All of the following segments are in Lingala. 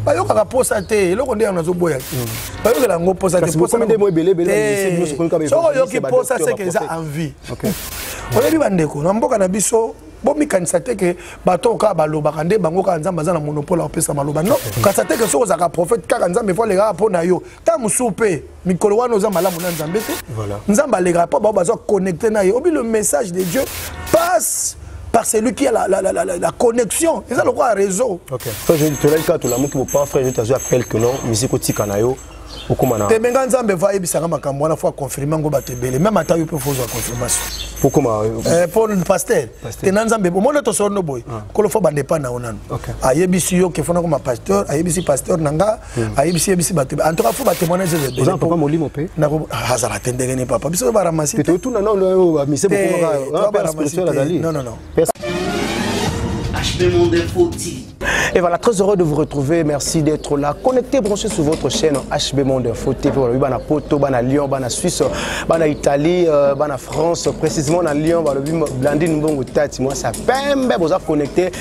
bayokaka posa te eloko nde yango nazoboya mm. bayokela yango posasoki oyoki posa seke eza envie oyebi bandeko na mboka na biso bomikanisa te ke bato oyo kaka balobaka nde bango kaka nzambe aza na monopole ya kopesa maloba no kasi ate ke soki ozalaka prophète kaka nzambe fo alekaka mpo na yo ntango mosusu mpe mikolo wana oza malamu na nzambe te nzambe alekaka mpo bao baza connecte na ye obi le message de dieu passe par celui qui a la, la, la, la, la connexion eza lokola réseau tolaki kaka tolamuki bopa frère jete azwi appel que non musique otika na yo tembe nga nzambe va ayebisanga makambo wana fo aconfirme yango bato ebele meme ata yo mpe fo ozwa confirmation po eh, paster te na nzambe omoni tosolo no boye ah. kolo fo bandepa na yo nanu ayebisi yo ke fona koma pasteur ayebisi pasteur na nga ayebisi yebisi bato en tout cas faut batémoignage eza papa molimo mpe azala te ndenge nini papa biso baramasi te otuna nao oyo bamise bokomaazali non non non HB Monde Info TV Et voilà, très heureux de vous retrouver. Merci d'être là. Connectez, branchez sur votre chaîne HB Monde Info TV. Voilà, oui, bana Poto, bana Lyon, bana Suisse, bana Italie, euh, bana France, précisément dans Lyon, voilà, Blandine Mbongo Tati. Moi, ça pembe, vous êtes connectés.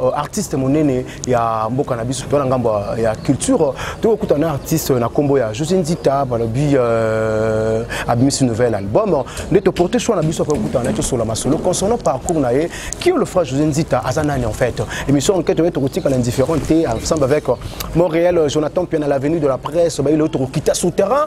Euh, artiste monene ya mboka na biso to na ngambo ya culture tokokuta na artiste na nkombo ya josé nzita balobi euh, abimisi nouvel album nde toporte choix na biso akoki kokutana na ye tosola masolo concernant parcours na ye kio le fra josé nzita aza nani en fait émission enquête oyo tokotikala indifférent te ensemble avec euh, montréal jonathan mpiana l'avenue de la presse bayi leo tokokita souterrain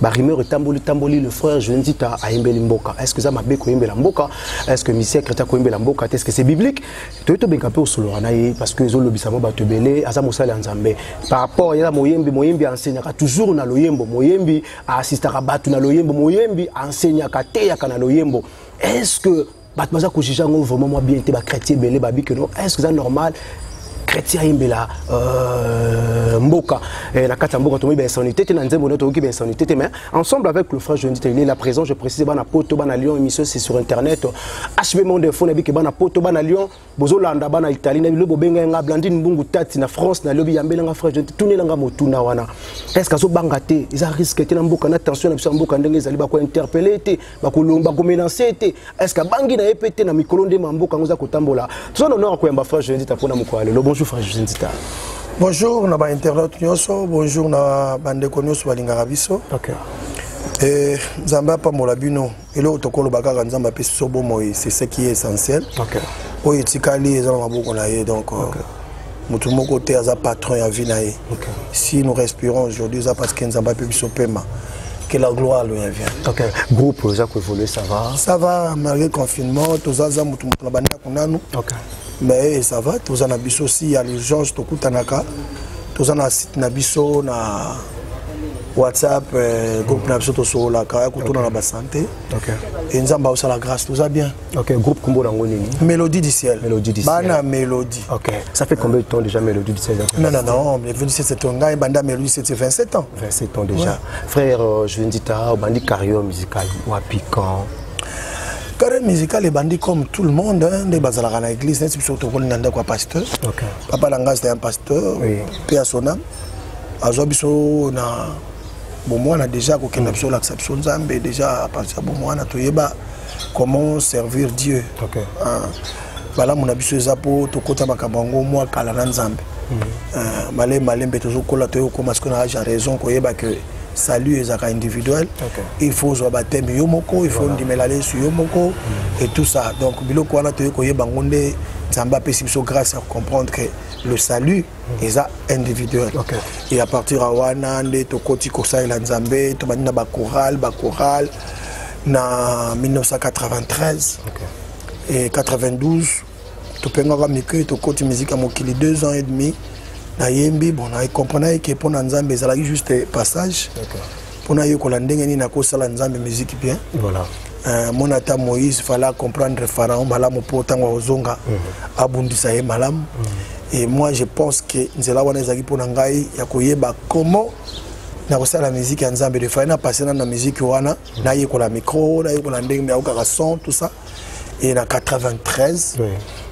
ba rumeur etamboli tamboli le frère Joël Nzita ayembeli mboka est-ce que ça mabe koyembela mboka est-ce que Mister Kreta koyembela mboka est-ce que c'est biblique to to benga pe osoloka na ye parce que ezo lobisa mo bato belé aza mosali ya Nzambe par rapport ya moyembi moyembi enseignaka toujours na loyembo moyembi assistaka bato na loyembo moyembi enseignaka teyaka na loyembo est-ce que bato baza kojuge yango vraiment mwa bien te bachrétien ebele babi keno est ce que eza normal chrétien ayembela euh, mboka eh, na kati ya mboka tomoyi bainsanité te na nzembo nde toyoki bainsanité te mais ensemble avec le frère jendi il est la présent je précise bana poto bana lyon émission c'est sur internet hb monde info na bike bana poto bana lyon bozolanda bana italie na bino bobengai nga blandine mbungu tati na france na lobi yambela nga frère tunela nga motuna wana est ce que azobanga te eza risque te na mboka na tension na biso ya mboka ndenge ezali bakointerpele te bakomelanse te est ce que abangi na ye mpe te na mikolo nde ma mboka yango eza kotambola toza na honore koyamba frère josendita mpo na mokolo ya lelo bonjour frère josendita bonjour na bainternaute nyonso bonjour na bandeko nyonso balingaka biso okay. Eh, nzambe apambola bino eloko tokoloba kaka nzambe apesi biso bomoi c'est ce qui est essentiel okay. oyo etikali eza na maboko na ye donc euh, okay. motu moko te aza patron ya vie na ye okay. si nous respirons aujourd'hui eza parce que nzambe ape biso pema que la gloire lui revient. Ok, groupe oza ko évoluer ça va. Ça va malgré confinement, toza za mutu mutu na banda kunanu. Ok. mais ça va toza na biso si ya l'urgence tokutanaka toza na site na biso na whatsapp euh, groupe na biso tosololaka ya kotuna na basante e nzambe aosala grâce toza bien okay, groupe kombo nango nini mélodie du ciel bana mélodie okay. ça fait combien de temps déjà mélodie du ciel non non non mélodie du ciel c'est ton ngai banda mélodie c'est 27 ans 27 ans déjà ouais. frère euh, je ne dis pas obandi carrière musicale wapi quand carrière musicale ebandi comme tout le monde hein, nde bazalaka na église neti biso tokoli na ndako ya pasteur papa na ngai c'était un pasteur mpe ya sona azwa biso na bomwana déjà kokenda biso olakisa biso nzambe déjà apartir ya bomwana toyeba comment servir dieu okay. ah. balamu na biso eza mpo tokota makambo yango mwa kala na nzambe mhm. ah, malembe malembe tozokola toyokoma sikoyo na age ya raison koyeba ke salut ezalaka individuel okay. il faut ozwa bateme yo moko il faut voilà. ondimela yesu yo moko mm. et tout ça donc biloko wana toyei koyeba yango nde nzambe apesi biso grâce ya kocomprendre que le salut mm. eza individuel okay. et à partir ya wana nde tokoti kosalela nzambe tobandi na bacoral bacoral na 1993 okay. et 92 topengaka mike tokoti miziki ya mokili deux ans et demi nayembi bon nacomprenaki ke mpo na nzambe ezalaki juste passage mpo nayekola ndenge nini nakosala nzambe miziki bien voilà. Uh, mona ata moïse fale acomprendre pharaon malamu mpo ntango akozonga mm -hmm. abundisa ye malamu mm -hmm. et moi je pense ke nzela wana ezalaki mpo na ngai ya koyeba comment nakosala miziki ya nzambe defai na passe na na miziki wana nayekola micro nayekola ndenge meyakokaka son tout ça et na 93 oui.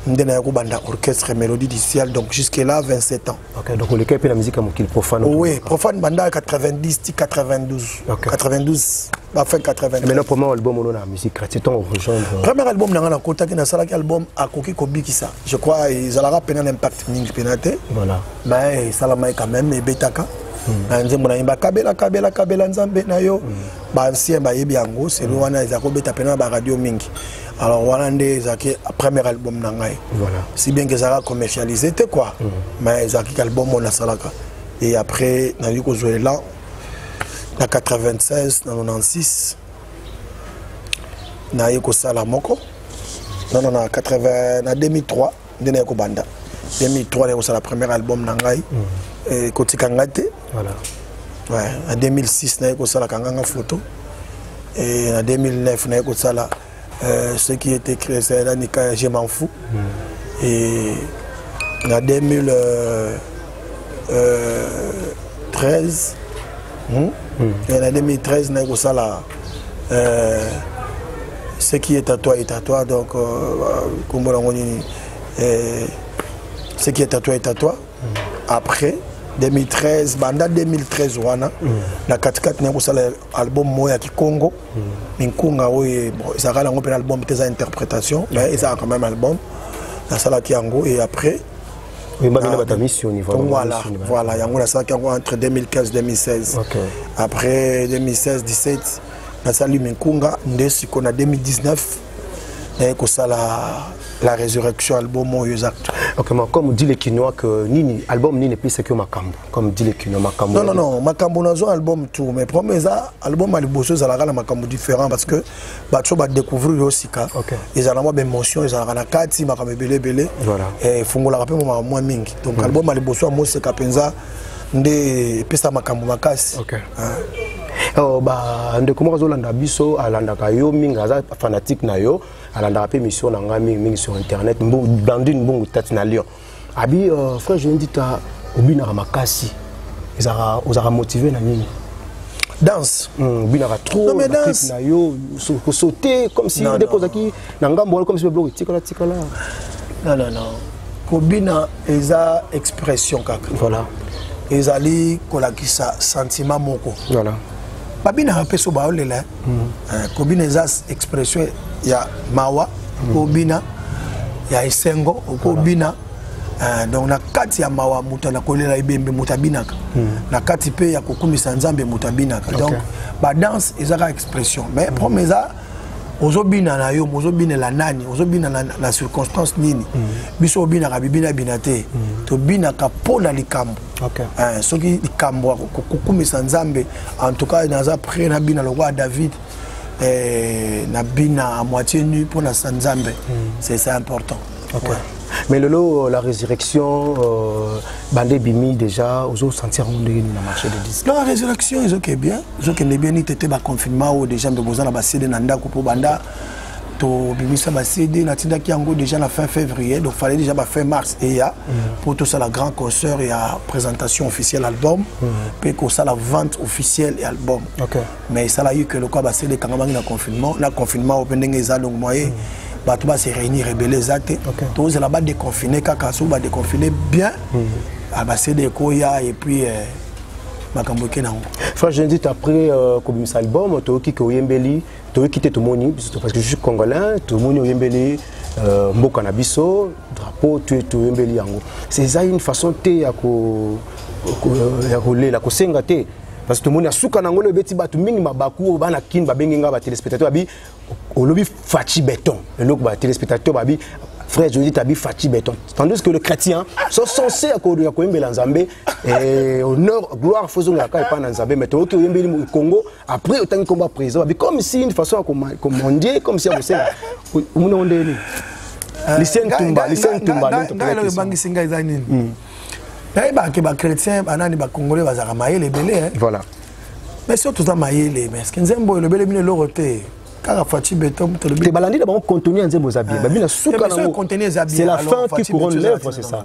nde naya kobanda orchestre mélodie du ciel donc jusque là 27 ans okay, donc oleka mpe na musique ya mokili profane oh, oui profane banda 90 ti 92 okay. 92 bafin 80 mais le premier album ono na musique chrétien ntango rejoindre euh, premier album na ngai nakotaki nasalaki album akoki kobikisa je crois ezalaka mpena na impact mingi mpena te voilà mais esalamaki quand même ebetaka hmm. na nzembo nayemba kabela kabela kabela nzambe na yo hmm. ba ancien bayebi yango selo mm. wana eza kobeta pena na baradio mingi alors wana nde ezalaki premier album na ngai voilà. si bien ke ezalaka commercialise te quoi mm. mais ezalaki ka album oyo nasalaka et après nazali kozwa elan na 96 na 96 naye kosala moko non non na 80 na 2003 nde naye kobanda 2003 naye kosala premier album na ngai mm. eh, kotika ngai te ouais, na 2006 naye kosalaka nganga photo e na 2009 naye kosala euh, ce qui était créé ezala nika je m'en fou mm. e na 2013 euh, euh, hmm? mm. na 2013 naye kosala euh, ce qui est à toi est à toi donc kombo nango nini ce qui est à toi est à toi mm. après 2013 banda 2013 wana mm. na katikati naye kosala album moko ya kikongo mm. minkunga oyo ezalaka nango mpe na album te eza interprétation mais ezalaka quand même album nasalaki yango et après oyembaki na bato ya misioni voilà voilà yango nasalaki yango entre 2015 2016 après 2016 17 nasali minkunga nde sikoyo na 2019 naye kosala la résurrection album oyo eza ok ma comme dit le kinois que nini album nini epesaki yo makambo comme dit le kinois makambo non non non makambo nazwa album tout mais problème eza album ya liboso ezalaka na makambo différent parce que bato oyo badecouvrir yo sika ezala mwa baémotion ezalaka na kati makambo ebele ebele eh, efungolaka mpe makambo mwa mingi donc mm. album ya liboso ya moseka mpenza nde epesa makambo makasi ah. oh, bandeko moko azolanda biso alandaka yo mingi aza fanatique na yo alandaka mpe mission na ngai mingi mingi sur internet blandine mbungu tati na lyon abi uh, frère je ndita obinaka makasi ezaka ozaka motivé na nini danse hmm, obinaka trop na clip na yo kosaute comme si ndeko ozalaki na ngambo wana comme si biloko etikala tikala non non non kobina eza expression kaka voilà ezali kolakisa sentiment moko voilà babinaka mpe so baolela eh, kobina eza expression ya mawa kobina ya esengo okobina eh, donc na kati ya mawa moto na kolela ebembe moto abinaka hmm. na kati mpe ya kokumisa nzambe moto abinaka donc badanse eza kaka expression mais hmm. problème eza ozobina na yo mozobinela nani ozobina na, na circonstance nini mm. biso obinaka bibina bina te mm. tobinaka mpo na likambo okay. eh, soki likambo kokumisa nzambe en tout cas naza près na bina lokola david eh, na bina à moitié nu mpo na sa nzambe mm. c'est important okay. ouais. mais lelo euh, la résurrection euh, bande ebimi déjà ozosentir yango ndenge nini na marché de disque la résurrection ezokende bien ezokende bien nitete baconfinement oyo déjà mpe boza na basede na ndako mpo banda tobimisa ba cd natindaki yango déjà na fin février donc fallait déjà ba fin mars eya mpo mm. tosala grand concert ya présentation officielle album mpe mm. kosala vente officielle ya album okay. mais esalaki ke lokola ba cd ekangamaki na confinement na confinement oyo mpe ndenge eza donc moye mm. bato base réunir ebele eza te okay. tozela badeconfine kaka soki badeconfine bien mm. Ah, ba cd ekoya et puis euh, makambo eke nango frère jendit après euh, kobimisa album toyoki ke oyembeli toyoki te tomoni biso parce que je suis congolais tomoni oyembeli euh, mboka na biso drapeau toyembeli yango eza une façon te ya kolela euh, kosenga te parce que tomoni ya suka na yango lelo ebeti bato mingi mabaku oyo bana kin babengi ngai batelespectateur babi olobi faci beton eloko batelespectateur babi frère Joseph Tabi Fatih Béton. Tandis que le chrétien, sont censés à Koyembe Nzambé, et honneur, gloire, faisons la caille pas Nzambé, mais tu au Congo, après otangi nkombo ya président babi comme si une façon ya komondie comme si ya kosenga omona ngo ndenge nini euh, lisentumba lisentumba ngai ebangisi ngai eza nini hmm. nayebaka ke bachrétien banani bacongolais bazalaka mayele ebele eh. voilà mais soki toza mayele mais eske nzembo elobeli bino eloko te kaka faci beton tolobi balandi na bango contenu ya nzembo eza bien eh. babi na suka eh, nango c'est la fin qui couronne l'œuvre c'est ça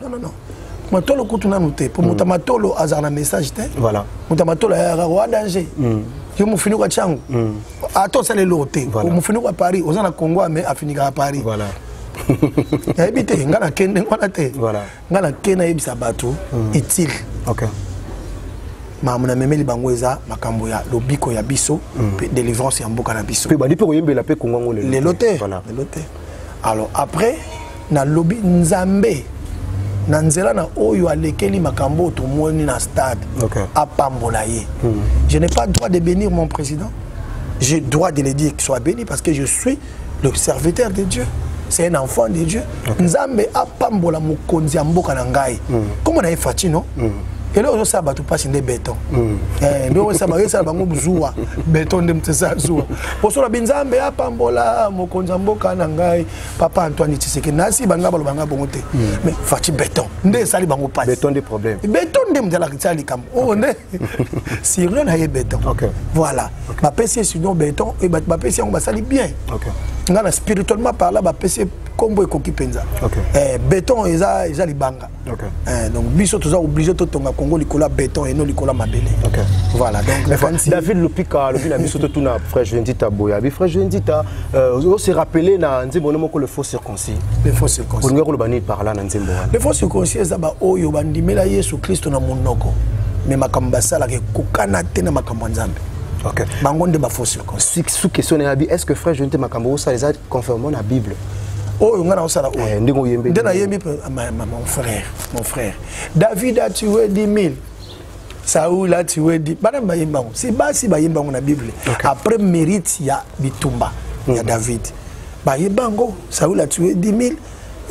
non non non matolo kutu nanu te mpo moto ya matolo azalaka na message te voilà moto ya matolo ayaka wa danger mm. yo mofinuku atya yango mm. ata osala eloko te mofinuku ya paris oza na congo ame afinikaka paris voilà. nayebi te ngai nake ndenge wana te voilà. ngai nake nayebisa bato mm. utile okay. makambo namemeli bango eza makambo ya lobiko ya biso mpe mm. délivrance ya mboka na biso mpe bandi mpe koyembela mpe kongo yango lelo te lelo te alors après nalobi nzambe na nzela na oyo alekeli makambo oyo tomoni na stade okay. apambola ye mm. je n'ai pas droit de bénir mon président je droit de le dire qu'il soit béni parce que je suis le serviteur de dieu c'est un enfant de dieu okay. nzambe apambola mokonzi ya mboka na ngai mm. koma na ye fati no mm. eloko ezosala bato mpasi nde beton hmm. eh, nde oyo esala bango zuwa beton nde motesala zuwa poso na binzambe apambola mokonzi ya mboka na ngai papa antoine tiseke nasi baninga baloba ngai bongo te hmm. mais faci beton nde esali bango pasbeton nde mzalakisala likambo oyo oh, nde sirio na ye beton voilà bapesi ye sinon beton e bapesi yango basali bien ngai na spirituellement parla bapesi ye nkombo ekoki mpenza eh, beton eza libanga Okay. Eh, donc biso toza obligé totonga congo likolo ya béton eno likolo ya mabele okay. voilà donc nakanisi david lopika alobi na biso totuna frère joendita boya bi frère joendita euh, ose rappele na nzembo no moko le faux circoncis le faux circoncis olingi koloba nini par là na nzembo wana le faux circoncis eza baoyo bandimela yesu kristo na monoko me makambo basalaka ekokana te na makambo ya nzambe okay. bango nde bafaux circoncis sous question na yabi est ce que frère joendita makambo osala eza conformement na bible oyo oh, ngai naosala oyo oh. eh, ndenge oyembi nde nayembi mon frère mon frère david a tué 10 000 saul a tué 10 bana bayemba yango si basi bayemba yango na bible okay. après mérite ya bitumba mm. ya hmm. david bayemba yango saul a tué 10 000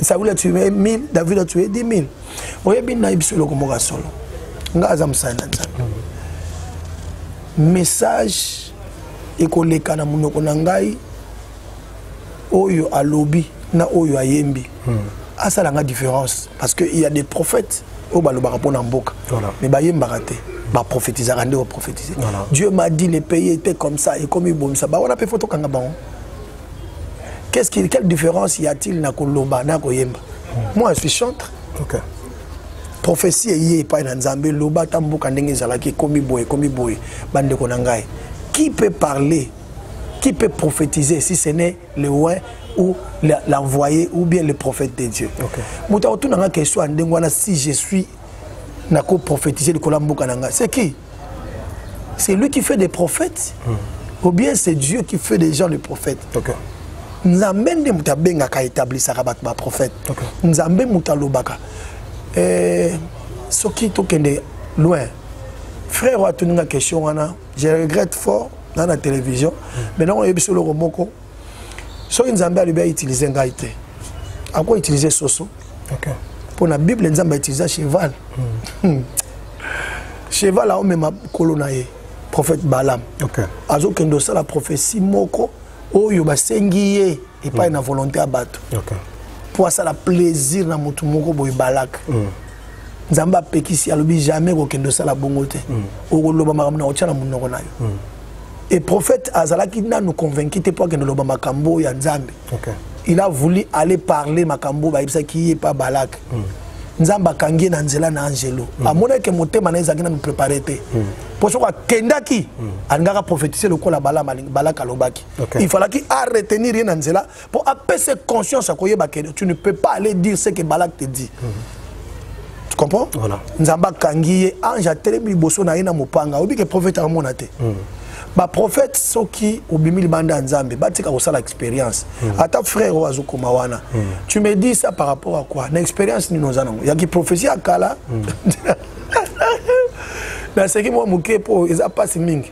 saul a tué 1000 david a tué 10 000 oyebi nayebisa eloko moko ya solo ngai aza mosali na nzambe hmm. message ekoleka na monoko na ngai oyo alobi na oyo ayembi hmm. asala nga différence parce que il y a des prophètes oyo balobaka mpo na mboka voilà. mais bayembaka te baprophétisaka nde baprophétise voilà. dieu m'a dit le pays était comme ça ekomi bomisa bawana mpe fo tokanga bango qu'est-ce qu'il quelle différence y a-t-il na koloba na koyemba hmm. moi je suis chantre okay. prophétie eye epai na nzambe loba ata mboka ndenge ezalaki ekomi boye ekomi boye bandeko na ngai qui peut parler Qui peut prophétiser si ce n'est le roi ou l'envoyé ou bien le prophète de Dieu okay. moto akotuna nga question ya ndenge wana si je suis nako prophétiser likolo ya mboka na nga c'est qui c'est lui qui fait des prophètes hmm. ou bien c'est Dieu qui fait des gens les prophètes okay. nzambe nde moto abengaka etablisaka bato baprophète okay. nzambe moto alobaka eh, soki tokende loin frère oyo atuni nga question wana je regrette fort na na télévision mais nango oyebi biso eloko moko soki nzambe alobi autilize ngai te ako utilize soso mpo na bible nzambe autiliza cheval hmm. cheval aomema kolo na ye prophète balam azokende osala prophétie moko oyo basengi ye epai hmm. na volonté ya bato mpo asala plaisir na motu moko boye balaka hmm. nzambe apekisi alobi jamais kokende osala bongo te mm. okoloba makambo na kotya na monoko na yo mm. et prophète azalaki nanu convaincu te mpo akende oloba makambo oyo ya nzambe okay. il a voulu aller parler makambo oyo bayebisaki ye pa balak mm. nzambe akangi ye na nzela na angelo mm. amonaki motema na ye ezalaki nanu prépare te mm. mpo soki akendaki mm. alingaka prophétise lokola balak alobaki okay. il falaki aretenir ye na nzela Pour apaiser conscience à Koyeba que tu ne peux pas aller dire ce que Balak te dit. Mm -hmm. Tu comprends Voilà. Nzamba Kangiye, ange à Télébi Bosso na yena mopanga. Obi que prophète à mon athée. Mm -hmm. baprofete soki obimi libanda ya nzambe batika kosala expérience mm. ata frère oyo azokoma wana mm. tu me dis ça par rapport à quoi na expérience nini oza nango ya kiprophesie ya kala mm. naseki mwa moke mpo eza mpasi mingi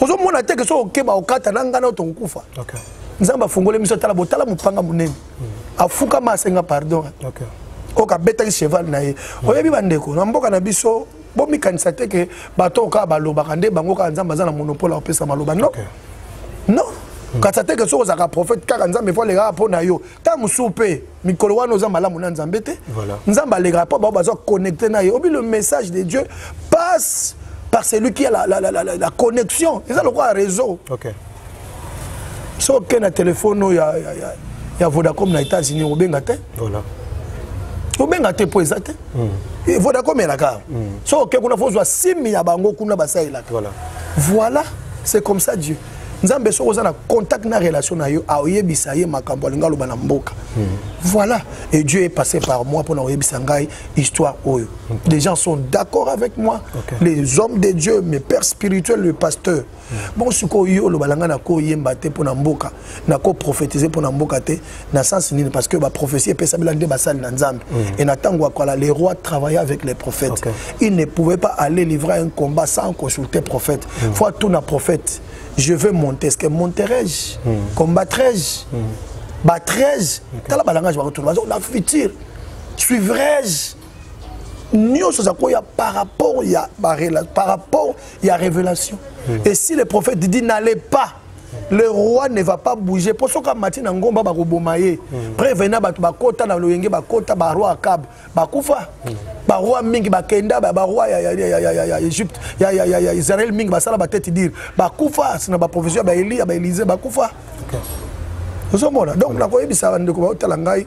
ozomona te ke soki okeba okata na ngai nao tokokufa nzambe afungoli miso tala botala mopanga monene hmm. afukama asenga pardon oyo kabetaki cheval na ye hmm. oyebi bandeko na mboka na biso bomikanisa te ke bato oyo kaka balobaka nde bango kaka nzambe aza na monopole akopesa maloba no no kasi ata ke soki ozalaka prophète kaka nzambe fo alekaka mpo na yo ntango mosusu mpe mikolo wana oza malamu na nzambe te nzambe alekaka mpo bao baza connecte na ye obi le message de dieu passe par celui qui a la, la, la, la, la, la connexion eza lokola réseau okay. soki okei na telefone oyo ya, ya, ya, ya vodacom na états-unis obenga te voilà. obenga te mpo eza te mm. Eh, vodacom elaka mm. soki okei kuna fozwa simi ya bango kuna basalelaka voilà, voilà. c'est comme ça dieu nzambe soki oza na contact na relation na yo aoyebisa ye makambo alingi aloba na mboka hmm. voilà et dieu est passé par moi mpo na koyebisa ngai histoire oyo les gens sont d'accord avec moi okay. les hommes de dieu mes pères spirituels le pasteur hmm. bon sikoyo yo oloba na ngai nakoyemba te mpo na mboka nakoprophétise mpo na mboka te na sens nini parce que ba prophétie epesamela nde basali na nzambe mm. et na ntango ya kala le roi travaillait avec les prophètes okay. il ne pouvait pas aller livrer un combat sans consulter prophète mm. faut tout na prophète je veux monter est-ce que monterai-je mm. combattrai-je mm. battrai-je okay. tala balangage bakotuna bazo na futur suivrai-je nyonso eza koya par rapport ya par rapport ya révélation mm. et si le prophète dit n'allez pas le roi ne va pas bouger mpo soki amati na ngomba bakoboma ye mm. preve na bato bakota na loyenge bakota baroi akab bakufa mm. baroi mingi bakenda baroi ya egypte ya israel mingi basala batete dire bakufa na baprovision ya baeli ya baelize bakufa ozomona donc nakoyebisa bandeko baotala ngai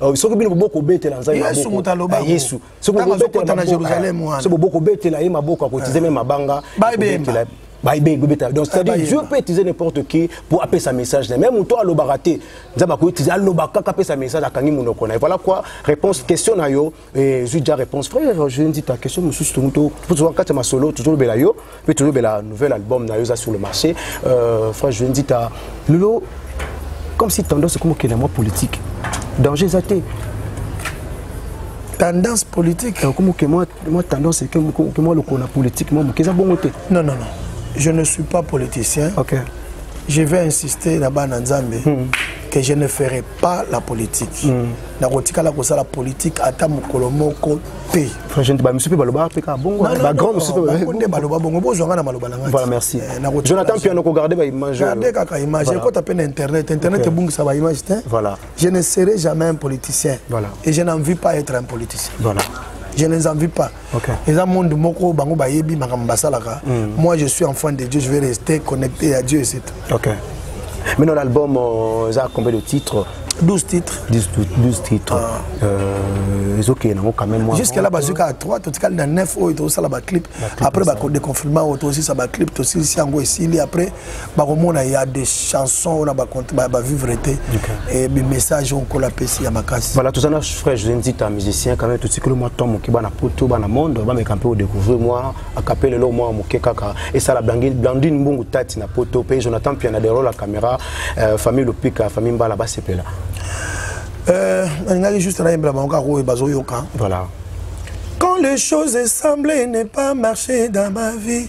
Euh, soki bino boboki kobetela nzambe yesu moto aloba ah, yesu soki bobetela na jérusalem wana soki boboki kobetela ye maboko akotize eh. me mabanga baibemba baibei kobetela donc eh, c'est-à-dire dieu peut utiliser n'importe qui pour apesa message na même moto alobaka te nzambe akoki utiliser alobaka kaka apesa message akangi monoko na ye voilà quoi réponse question na yo Eh, zwi déjà réponse frère je dit ta question mosusu tongo tozwa kati ya masolo tozolobela yo mpe tozolobela nouvel album na yo eza sur le marché euh, frère je dit ta lelo comme si tendance ekoma okenda mwa politique danger eza te tendance politique okoma oke mwa tendance eke mwa lokolo na politique mwa moke eza bongo te non non non je ne suis pas politicien okay. je vais insister na bana nzambe hmm. que je ne ferai pas pas la politique mm. nakotikala kosala politique ata mokolo moko te bamisu mpe balobaka mpe kaka bongo bagrand mosusu nde baloba bongo bozwa nga na maloba na ngaivoilà merci eh, jonathan piano kogarde baimage garde kaka image ekota mpe na internet internet ebungisa baimage te voilà je ne serai jamais un politicien voilà et je n'envie pas être un politicien voilà je ne envie pas Okay. eza monde moko bango bayebi makambo basalaka mm. moi je suis enfant de dieu je vais rester connecté à dieu et c'est tout okay. maintenant l'album euh, eza combien de titres 12 titres 12, 12 titres ah. euh, ezokende nango quand même jusque là bazwi kaka 3 totikali na 9 oyo tozosala baclip après badeconfinement oyo tozosisa baclip tosilisi yango esili après bakomona ya de chanson oyo na bavivre te e bimessage oyo nkolo apesi ya makasi voilà toza na frère josé nzita musicien quand même totikeli mwa temps moke bana poto bana monde bameka mpe odecouvrir mwa akapele eloko mwa moke kaka esala blandine mbungu tati na poto mpe jonathan piana derol la caméra euh, famille lopika famille mbala basepela euh, nalingaki juste nayembela bango kaka oyo bazoyoka voilà quand les choses semblaient ne pas marcher dans ma vie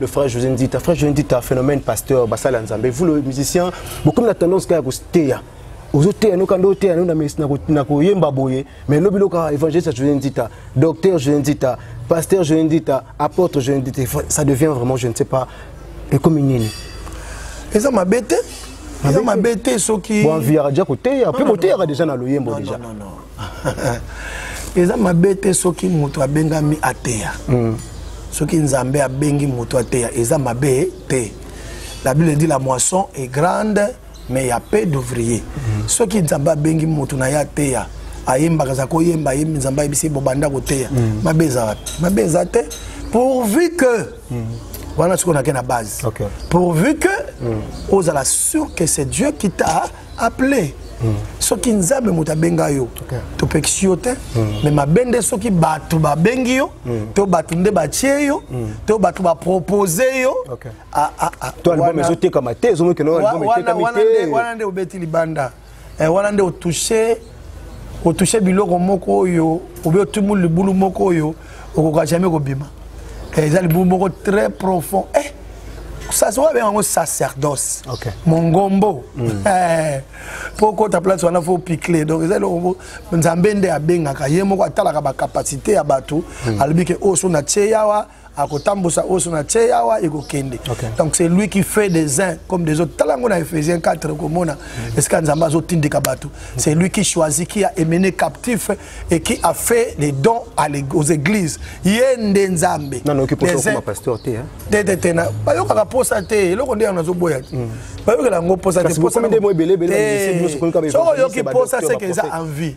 le frère José Ndita. Frère José Ndita, phénomène pasteur, Bassal Nzambe. Vous, le musicien, beaucoup de tendance à vous taire. ozoteya noka nde oteya no na koyemba boye mais lobi loka évangéliste josé ndita docteur josé ndita pasteur josé ndita apôtre josé ndita ça devient vraiment je ne sais pas ekomi nini eza mabe te eza mabe te soki bon viara dia koteya mpe boteyaka déjà na loyembo déjà eza mabe te soki moto abengami ateya mm. soki nzambe abengi moto ateya eza mabe te la bible dit la moisson est grande mais ya peu d'ouvrier mm. soki nzambe abengi moto na ye ateya ayembaka aza koyemba ayembi nzambe ayebisi bobanda koteya mm. mabe eza wapi mabe eza te pourvu que mm. wana soki onake na base okay. pourvu que mm. ozala sûr que c'est dieu qui t'a appelé hmm. soki nzambe moto abenga yo okay. topekisi yo te mm. me mabe nde soki bato babengi yo mm. to bato nde batie yo mm. to bato bapropose yo okay. ah, ah, ah, to album ezotekama te ezomokewana nde obeti libanda eh, wana nde otouche otouche biloko moko oyo obe otumuli libulu moko oyo okoka jamais kobima eh, eza libulu moko très profond eh, sasa oyo abenga yango sacerdoce okay. mongombo mm. eh, mpo okota place wana fo picle donc eza eloko moko nzambe nde abengaka ye moko atalaka bacapacité ya bato mm. alobi ke oyo oh, so na tie yawa akotambusa oso na tie awa ekokende okay. donc c'est lui qui fait des uns comme des autres tala yango na ephésiens 4 okomona mm. esika nzambe azotindika bato mm. c'est lui qui choisit qui a émené captif et qui a fait les dons à les, aux églises ye nde nzambe bayokaka mposa te eloko nde yango nazoboya te mm. bayokela yango mposa te soki oyoki mposa seke eza envie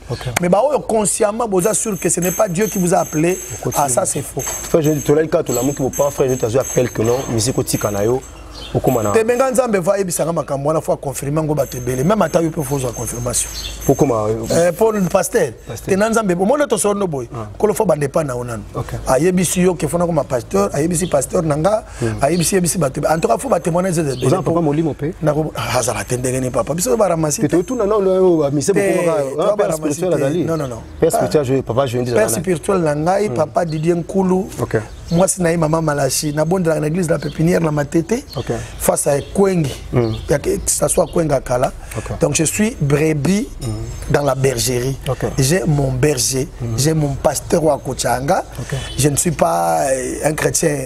Okay. Mais bah, oh, consciemment, vous êtes sûr que ce n'est pas Dieu qui vous a appelé. Ah, ça, c'est faux. Frère, je te l'ai dit, tu l'as montré, pas frère, je te appelle que non, musique au Tikanayo. tebenga nzambe va ayebisanga makambo wana fo aconfirme yango bato ebele meme ata yo mpe fo ozwa confirmation po pasteur tena nzambe omoni tosolo no boye ah. kolo fo bandepa na yo nanu ayebisi yo ke fona koma pasteur ayebisi pasteur na nga hmm. ayebisi yebisi bato en tout cas faut batémoignage eza papa molimo mpe azala te ndenge nini papa biso baramasi totuna na oyo bamise bokomaka spirituel azali non non non père spirituel je papa je ndisa père spirituel na ngai hmm. papa Didier Nkulu OK mwasi na ye mama Malachi na bondelaka na église de la pépinière na Matete OK face à Ekwengi hmm. ya que ça soit Ekwenga kala donc je suis brebis dans la bergerie j'ai mon berger j'ai mon pasteur wa Kochanga je ne suis pas euh, un chrétien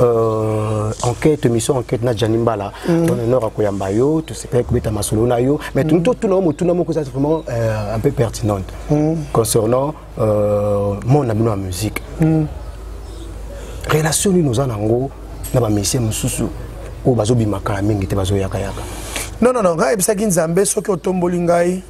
euh, enquête mission enquête na Gianni Mbala mm. ton honneur à koyamba yo tu sais pas kubeta masolo na yo mais mm. tout tout na mo tout na mo ko ça vraiment euh, un peu pertinente mm. concernant euh, mon ami la musique mm. relation ni nous en ango na ba messieurs mususu o bazo bimaka mingi te bazo yaka yaka non non non ngai ebisaki nzambe soki otomboli ngai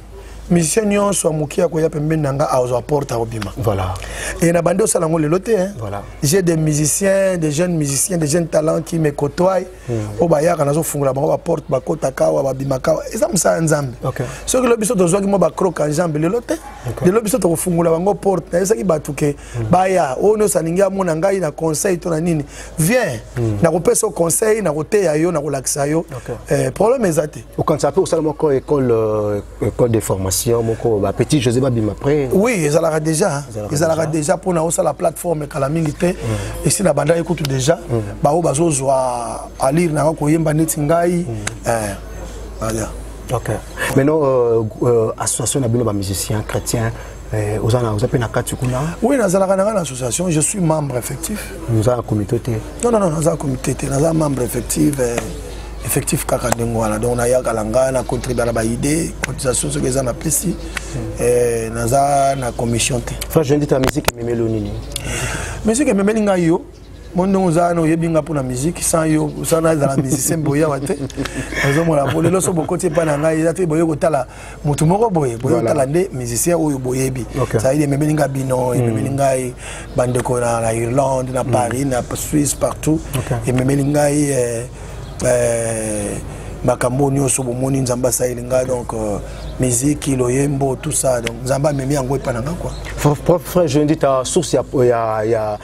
musicien nyonso ya moke akoya pembeni na nga azwa porte akobima voilà. e na bandi osala yango lelo te voilà. j'ai des musiciens des jeunes musiciens des jeunes talents qui me cotoye hmm. oyo bayaka nazofungola bango baporte bakotaka awa babimaka awa eza mosala ya nzambe okay. soki lelo biso tozwaki mwa bacroke ya nzambe lelo te okay. lelo biso tokofungola bango porte nayebisaki bato ke mm. baya oyo nyonso alingi amona ngai na conseil to na nini viens mm. nakopesa conseil nakoteya yo nakolakisa yo okay. eh, problème eza te okanisa mpe osala moko école euh, école de formation moko ba petit josé babima après oui ezalaka déjà ezalaka déjà mpo na osala plateforme kala mingi te mm. esi na bandaki kutu déjà mm. baoyo bazozwa alire nanga koyemba neti ngai mm. eh, voilà. okay. maintenant euh, euh, association na bino bamusicien chrétien Eh, oza na oza pe na kati kuna oui nazalaka nanga na association je suis membre effectif oza na comité te non non non naza comité te naza membre effectif eh, effectif kaka ndenge wana donc nayaka na ngai na contribuer na baidée cotisation soki eza napesi hmm. eh, naza na commission te fra jendi ta musique ememeli yo nini musique ememeli ngai yo mo ndenge oza wana oyebi nga mpo na musike sans yo sana ezala musicien boyawa te nazomona po lelo so bokoti epai na ngai eza te boye kotala motu moko boye boye otala nde musicien oyo boyebi cetadire ememeli ngai bino hmm. ememeli ngai bandeko na irlande na hmm. paris na suisse partout ememeli ngai eh, eh, makambo nyonso bomoni nzambe asaleli ngai donc euh, miziki loyembo tout ça donc nzambe amemi yango epa na ngai kua frère jendi ta source ya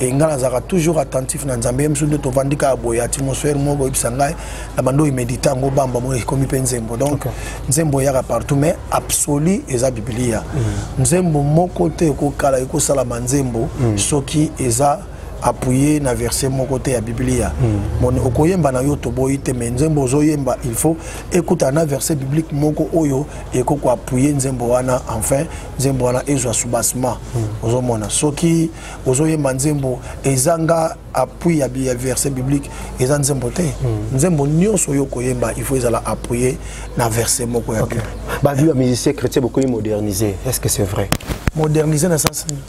e ngai nazalaka toujours attentif na nzambe ye mosusu nde tovandi kaka boye atmosphère moko koyebisa ngai na bando oyo medita yango bamba moko ekomi mpe nzembo donc nzembo eyaka partout mais absolu eza biblia mm. nzembo moko te ekokala ekosalama nzembo mm. soki eza appuye na verset moko te ya biblia mm. okoyemba na yo toboyi te me nzembo ozoyemba il faut ekutana na verset biblique moko oyo ekoki koappuye nzembo wana enfin nzembo wana ezwa soubassement ozomona soki ozoyemba nzembo ezanga appui ya verset biblique eza nzembo te hmm. nzembo nyonso oyo koyemba il faut ezala appuye na verset moko ya bible bavi ya musicien chrétien bokomi moderniser est ce que c'est vrai moderniser na sens nini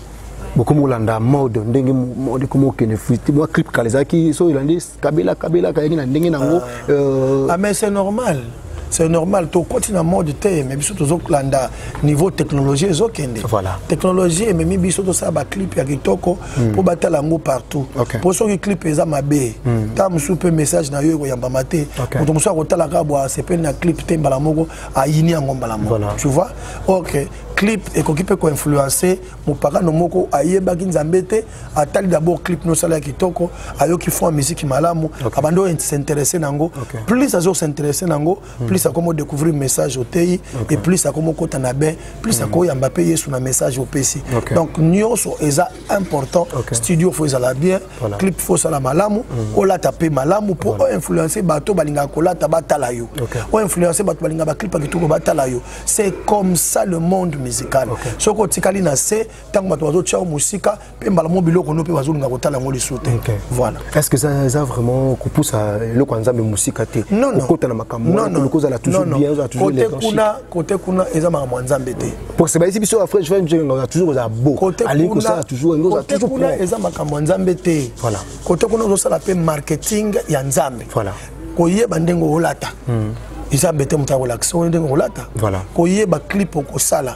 bokomi kolanda mode ndenge mode komi okende flite mwa clip kala ezalaki so elandi kabela kabela kayaki na ndenge nango ah. euh, ah mais c'est normal c'est normal tokoti na mode te mais biso tozokolanda niveau technologie ezokende voilà. technologie ememi biso tosala baclip ya kitoko hmm. mpo mm. batala yango partout mpo okay. soki clip eza mabe mm. ta mosusu mpe message na yo ekoyambama te okay. moto mosusu akotala kaka bwa asepeli na clip te mbala moko ayini yango mbala moko voilà. tu vois ok clip ekoki mpe koinfluence mopakano moko ayebaki nzambe te atali d'abord clip nosala ya kitoko ayoki fond ya miziki malamu okay. abandi oyo s'interesse na yango okay. plus azo s'interesse na yango mm. plus akoma odécouvrir message oteyi okay. et plus akoma okota na bain plus mm. akoyamba mpe yesu na message opesi okay. donc nyonso eza important okay. studio fo ezala bien voilà. clip fo osala malamu mm. olata mpe malamu mpo voilà. oinfluence bato balingaka kolata batala yo okay. oinfluence bato balingaka baclip ya kitoko batala yo c'est comme ça le monde musical okay. soki otikali na se ntango bato bazotia yo mosika mpe mbala mo biloko no mpe bazolinga kotala yango lisu te voilà est ce que eza eza vraiment kopusa eloko ya nzambe mosika te okota na makambokozala toujourbienkote kuna kote kuna eza makambo ya nzambe te parce bayisi biso ya french french oza toujours kozala bo alingi kosala toujourkote kuna eza makambo ya nzambe te voilà kote kuna ozosala mpe marketing ya nzambe voilà koyeba ndenge olata hmm. eza mbete moto akolakisa oyo ndenge kolata koyeba clip okosala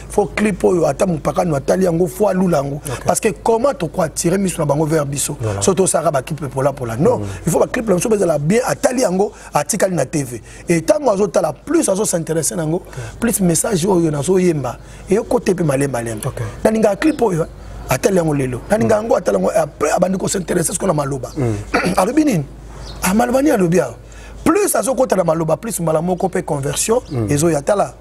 fo clip oyo ata mopakano atali yango fo alula yango okay. parce que comment toko attire miso na bango vers biso voilà. so tosalaka baclipe polapola non mm. il faut baclipe na biso bazala bien atali yango atikali na tv e ntango azotala plus azosinteresse na yango okay. plus message oyo nazoyemba eyokote mpe malembalemba okay. nalingaka clip oyo atali yango lelo nalingaka yango atali yango après abandi kosinteresse siko na maloba mm. alobi nini amaloba ah, nini alobi awa plus azokota na maloba plus mbala moko mpe conversion mm. ezoya tala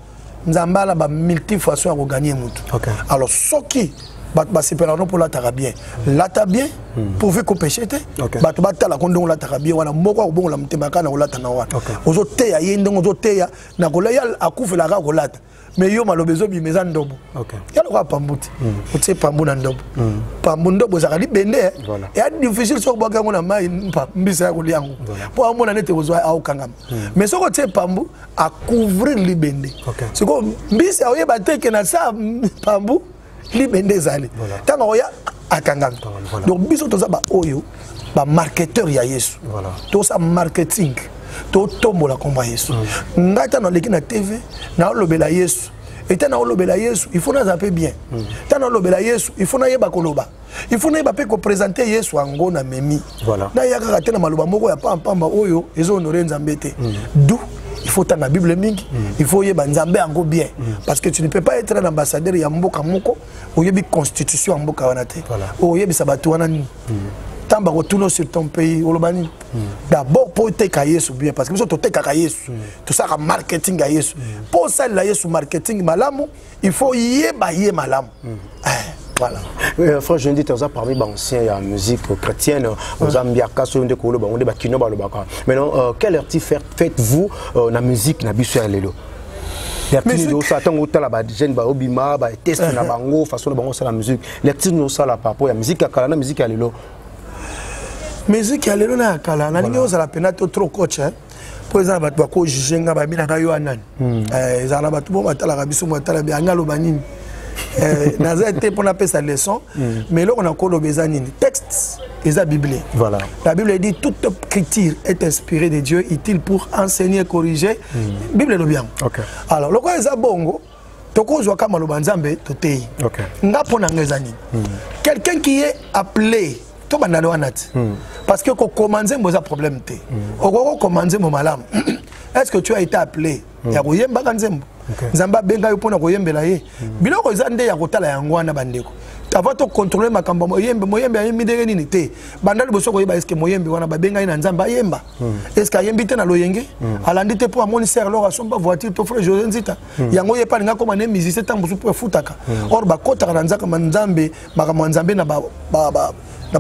nzambe ala ba multifaçon ya koganye motu okay. alors soki bato basepelaka no mpo olataka bien lata bien hmm. pourvu kopeshe te bato batalako ndenge olataka bien wana moko akobongola motema kaka na kolata na wana ozoteya ye ndenge ozoteya na kolai akufela kaka kolata mais yo maloba ezobima eza ndobo ya lokola pambu te hmm. otie pambu na ndobo hmm. pambu ndobo ezalaka libende eh? eya difficile soki obwaki yango na mai mbisa ya kolia yango mpo amona nete ozwa aokangama mais soki otie pambu a couvrir libende okay. sikoyo mbisi aoyeba te ke na saa mpambu libende ezali ntango voilà. akoya akangami voilà. donc biso toza baoyo bamarketeur ya yesu voilà. tosa marketing totombola nkombo ya yesu mm. ngai ntango naleki na tv naolobela yesu eta naolobela yesu il faut naza mpe bien ntango mm. naolobela yesu il faut nayeba koloba il faut nayeba mpe kopresente yesu yango na memi voilà. naya kaka te na maloba moko ya pampamba oyo ezonore nzambe te mm. du il faut otanga bible mingi mm. il faut oyeba nzambe yango bien mm. parce que tu ne peux pas être un ambassadeur ya mboka moko oyebi constitution ya mboka wana te voilà. oyebisa bato wana nini mm. ntango bakotuna sur ton pays oloba nini mm. d'abord mpo oteka yesu bien parce que biso totekaka yesu mm. tosalaka marketing ya yesu mpo mm. osalela yesu marketing malamu il faut yeba ye malamu eh. voilà euh, frère jendi te oza parmi baancien ya musique chrétienne oza mbiaka soki nde koloba yango nde bakino balobaka maintenant euh, quelle arti faites vous euh, na musique na biso ya lelo lecture osala ntango otala bajeune baobima bateste na uh-huh. bango façon na bango osala musique lecture nini osala par rapport ya musique ya kala na musique ya lelo musique ya lelo na ya kala nalingi ozala mpena to trop coach hein? mpo eza na bato bako juge nga babi na ngai yo anani hmm. eh, ezala na bato moko batalaka biso moko atala bi anga aloba nini eh, naza te mpo napesa leçon hmm. mais eloko nakoloba eza nini texte eza bible voilà. la bible dit toute écriture est inspirée de dieu utile pour enseigner corriger mm. bible elobi yango okay. alors lokola eza bongo tokozwa ka maloba nzambe toteyi okay. nga mpo na nga eza nini mm. quelqu'un qui est appelé tobanda le wana ti mm. parce que kokoma nzembo eza problème te mm. okoki kokoma nzembo malamu est ce que tu as été appelé mm. ya koyembaka nzembo okay. nzambe abenga yo mpo na koyembela ye mm. biloko eza nde ya kotala yango wana bandeko avant tocontrole makambo moyembe moyembe ayembi ndenge nini te banda liboso koyeba eske moyembe wana babengai na nzambe ayemba Hmm. est ce que ayembi te na loyenge hmm. alandi te mpo amoni ser lor asomba voiture to frère josé nzita hmm. yango ye mpe alinga akoma ne musicien ntango mosusu mpo efutaka or bakotaka na nzaka nzambe makambo ya nzambe na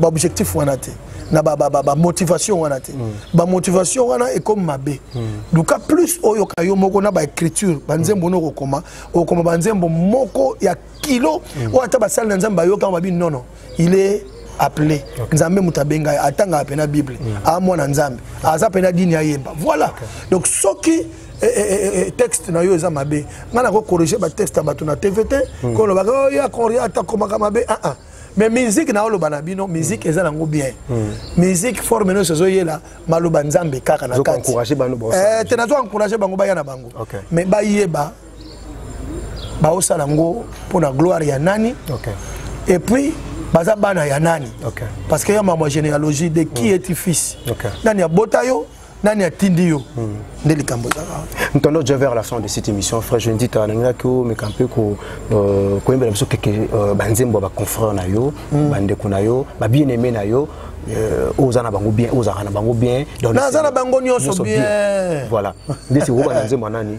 baobjectif wana te na bamotivation ba, ba, ba wana te mm. bamotivation wana ekomi mabe mm. luka plus oyoka yo moko na baécriture banzembo mm. nokokoma okokoma banzembo moko ya kilo mm. oyo ata basali na nzambe bayoka babi nono il est appelé okay. nzambe moto abenga ye atangaka mpe na bible mm. aa mwana nzambe aza mpe na dini ayemba voilà okay. donc soki eh, eh, eh, eh, texte na yo eza mabe ngai nakokorrige batexte ya bato na tv te mm. kolobaka oh, ya koria atakomaka mabe aa ah, ah. mais musique na oloba na bino musique eza nango bien hmm. musique forme nyonso ezoyela maloba nzambe kaka na kati eh, te nazo encourage bango baya na bango mais bayeba baosala yango mpo na gloire ya nani okay. et puis baza bana ya nani okay. parce que ya mambo généalogie de qui mm. est fils okay. nani abota yo nani atindi yo hmm. nde likambo ezalaka ntondo je vers la fin de cette émission frère je ndita nalingaki omeka mpe euh, koyembela biso keke euh, banzembo ya baconfrère na yo hmm. bandeko na yo babien aime na yo euh, oza na bango bien ozalaka na bango bien naza na bango nyonso bien voilà nde sikokoba na nzembo ya nani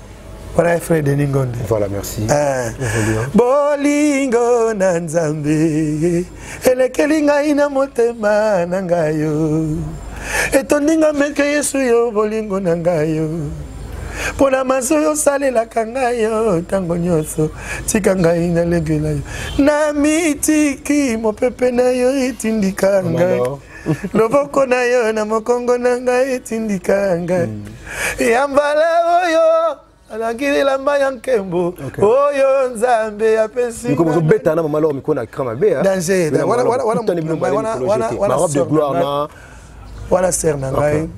wana frère denis ngonde voilà merci eh. bolingo na nzambe elekeli ngai na motema na ngai yo etondi nga meke yesu yo bolingo na ngai yo mpo na maso yo osalelaka ngai yo ntango nyonso tika ngai nalegela yo na mitiki mopepe na yo etindika ngai loboko na yo na mokongo na ngai etindika ngai mm. ya mbala oyo alaki elamba ya nkembo oyo nzambe apesiobeta na mama loko mikolo na kra mabe wana ser na ngai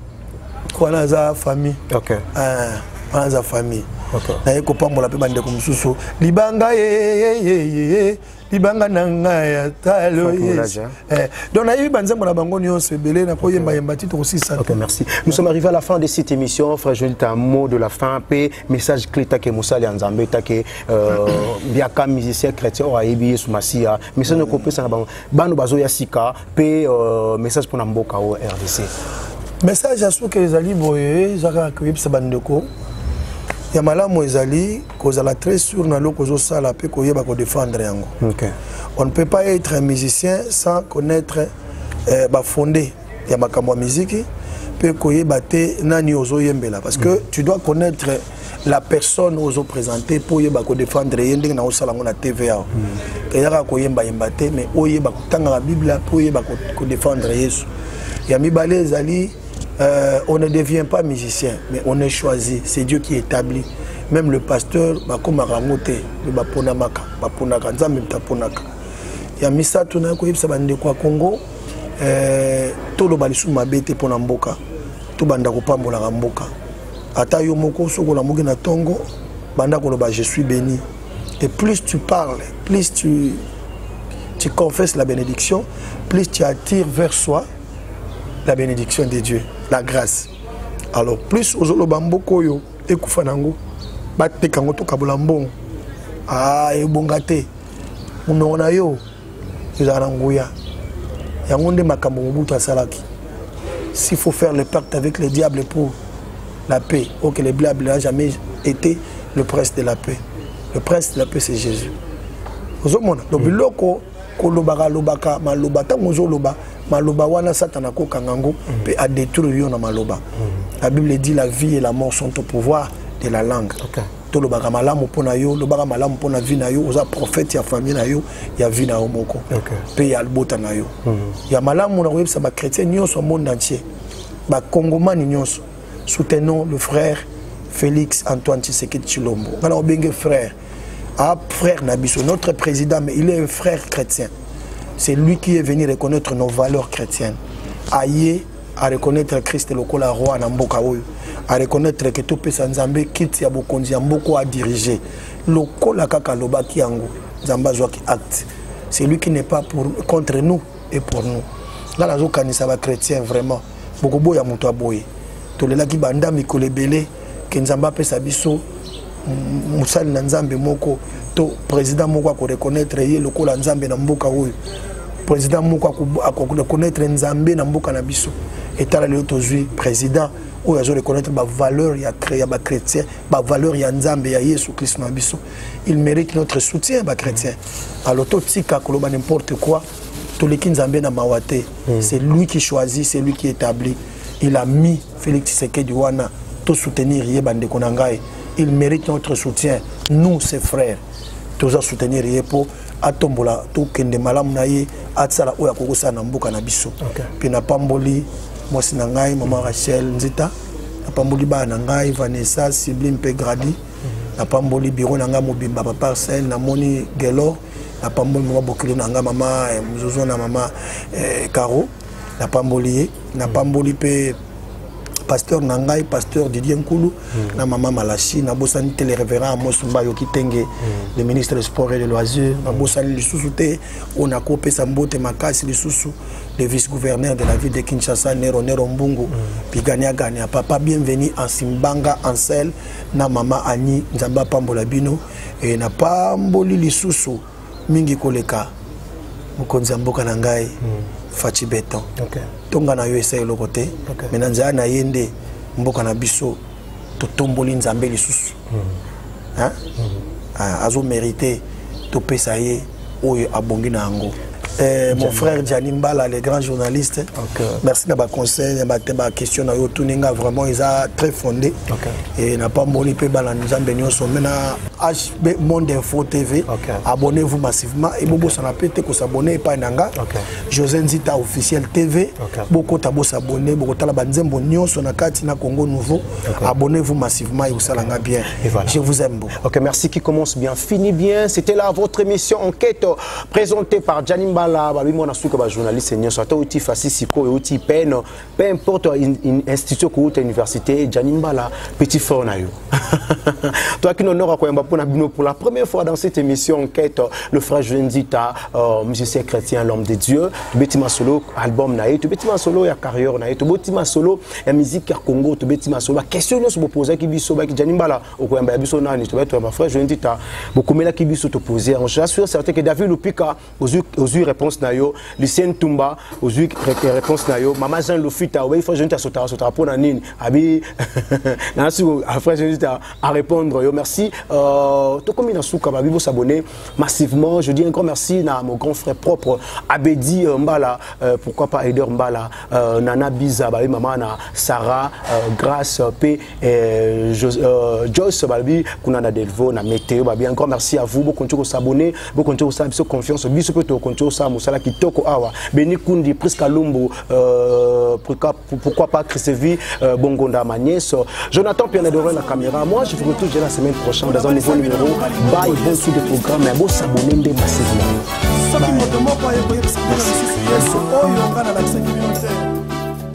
wana aza famille ah, wana aza famille naye kopambola mpe bandeko mosusu libanga yeyeyeye libanga na ngai ya talo hein. eh, donc nayebi banzembo na bango nyonso ebele na koyembayemba ti tokosisa ok merci nous sommes arrivés à la fin de cette émission frère joel ta mot de la fin mpe message clé take mosali ya nzambe take euh, biaka musicien chrétien oyo ayebi yesu masiya message mm. okopesa na bango bano bazoya sika mpe euh, message mpo na mboka oyo rdc message ya suka ezali boye ezaka koyebisa bandeko ya malamu ezali kozala très sûr na eloko ozosala mpe koyeba kodefendre yango okay. on ne peut pas être un musicien sans connaître euh, bafonde ya makambo ya miziki mpe koyeba te nani ozoyembela parce que mm. tu dois connaître la personne ozo présente mpo oyeba kodefendre ye ndenge na osala yango na tv awa mm. eyaka koyembayemba te mais oyeba kotangaka biblia mpo oyeba kodefendre yesu ya mibale ezali Euh, on ne devient pas musicien, mais on est choisi. C'est Dieu qui établit. Même le pasteur, bakomaka yango te, mais baponamaka, baponaka, nzambe mtaponaka. Ya misato na koyebisa bandeko ya Congo, euh, toloba lisusu mabe te mpo na mboka, tobanda kopambolaka mboka. Ata yo moko soki olamuki na tongo, banda koloba je suis béni. Et plus tu parles, plus tu, tu confesses la bénédiction, plus tu attires vers soi la bénédiction de dieu la grâce alors plus ozoloba mboka oyo ekufa nango bateka yango tokabola mbongo ah, ebonga te monoko na yo ezala na nguya yango nde makambo mobutu asalaki s'il faut faire le pacte avec le diable pour la paix ok le diable n'a jamais été le prince de la paix le prince de la paix c'est jésus ozomona donc mm. biloko kolobaka lobaka maloba ntango ozoloba maloba wana satana akokanga yango mpe mm. adétruire yo na maloba mm. la bible dit la vie et la mort sont au pouvoir de la langue okay. tolobaka malamu mpo na yo lobaka malamu mpo na vie na yo oza prophète ya famille na yo ya vie na yo moko mpe ya libota na yo mm. ya malamu na koyebisa bachrétien nyonso ya monde entier bakongomani nyonso soutenons le frère félix antoine tshisekedi tshilombo ngai na obenge frère Ah, frère Nabiso, notre président, mais il est un frère chrétien. C'est lui qui est venu reconnaître nos valeurs chrétiennes. Aïe, à reconnaître Christ le Kola roi Namboka Oyo, à reconnaître que tout pesa Nzambe quitte ya bokonzi ya mboko à diriger. Le Kola kaka loba ki yango, Nzambe azwa ki acte. C'est lui qui n'est pas pour contre nous et pour nous. Là la zo kanisa ba chrétien vraiment. Bokobo ya muto aboye. Tolelaki banda mikolo ebele ke nzambe apesa biso mosali na nzambe moko to président moko akoreconnaitre ye lokola nzambe na mboka oyo président moko akoreconnaitre nzambe na mboka na biso etala lelo tozwi président oyo azo reconnaître bavaleur ya, ya bachrétien bavaleur ya nzambe ya yesu kristo na biso il mérite notre soutien bachrétien alo totika koloba n'importe quoi toleki nzambe na mawa te hmm. c'est lui qui choisit c'est lui qui établit il a mis Félix Tshisekedi wana to soutenir ye bandeko na ngai il mérite notre soutien nous ses frères toza soutenir ye mpo atombola tokende malamu na ye atisala oyo akoki kosala na mboka na biso mpe napamboli mwasi na ngai mama rachel nzita napamboli bana na ngai vanessa sibli mpe gradi mhm. napamboli biro na ngai mobimba baparcelle namoni gelor napamboli mama bokilo na ngai mama eh, mzozo na mama eh, caro napamboli ye napamboli mpe pasteur na ngai pasteur didier nkulu mm. na mama malasi nabosani te le révérend amos mbayo kitenge mm. le ministre de sport et de loisir nabosani lisusu te oyo nakopesa mbote makasi lisusu le vice-gouverneur de la ville de Kinshasa, Nero Nero Mbungu, mm. Pigania Gania, Papa Bienvenue en Simbanga, Ansel, na Mama Annie, Nzamba Pambola Bino, et na Pamboli Lisusu, mingi koleka mokonzi ya mboka na ngai mm. faci beton okay. tonga na yo esa eloko te okay. me na nzela na ye nde mboka na biso totomboli nzambe lisusu mm. hein? mm. Ah, azomerite topesa ye oyo abongi na yango Eh, mon frère Gianni Mbala, le grand journaliste. Okay. Merci na ba conseil, na ba question na yo tuninga vraiment ils a très fondé. Okay. Et n'a pas moli pe bala nous ambiance mais na be monde info tv okay. abonnez-vous massivement et bobo okay. sana pete ko s'abonner epai na nga okay. José Nzita officiel tv okay. boko ta bo s'abonner boko tala ba nzembo nyonso na kati na Congo nouveau okay. abonnez-vous massivement et usala nga bien et voilà. je vous aime beaucoup OK merci qui commence bien fini bien c'était là votre émission enquête présentée par Janim Bala ba bimo na suka ba journaliste nyonso ata uti fasisi ko uti peine peu importe institution okouta université jani mbala petit frère na yo toyaki na honore ya koyamba mpo na bino pour la première fois dans cette émission enquête le frère jenzita euh, musicien chrétien l'homme de dieu tobeti masolo album na ye tobeti masolo ya carrière na ye tobeti masolo ya musique ya congo tobeti masolo baquestion nyonso bopozaki biso baki jani mbala okoyamba ya biso nani tobaki toyamba frère jenzita bokomelaki biso topose yango je suis certain que david lupika ozwi ozwi réponse na yo lucien ntumba ozwi réponse na yo mama jean lofita obeyi fo jeanita asotaka asotaka mpo na nini abi nana siko après jeanita à répondre yo merci euh, tokomi na suka babi bosabonne massivement je dis un grand merci na mon grand frère propre abedi euh, mbala euh, pourquoi pas aider mbala euh, nana biza babi mama na sarah euh, grâce mpe Eh, euh, Joyce balobi kuna na Delvaux na meteo babi encore merci à vous bokonti kosabone bokonti kosala biso confiance biso mpe tokonti kosala mosala kitoko awa beni kundi prisca lumbu euh, pourquoi pas christevi euh, bongonda ma nièce jonathan pianadore na caméra moi je vous retrouve la semaine prochaine dans un nouveau numéro bye bon sous de programme ya bosabone nde masisi na yo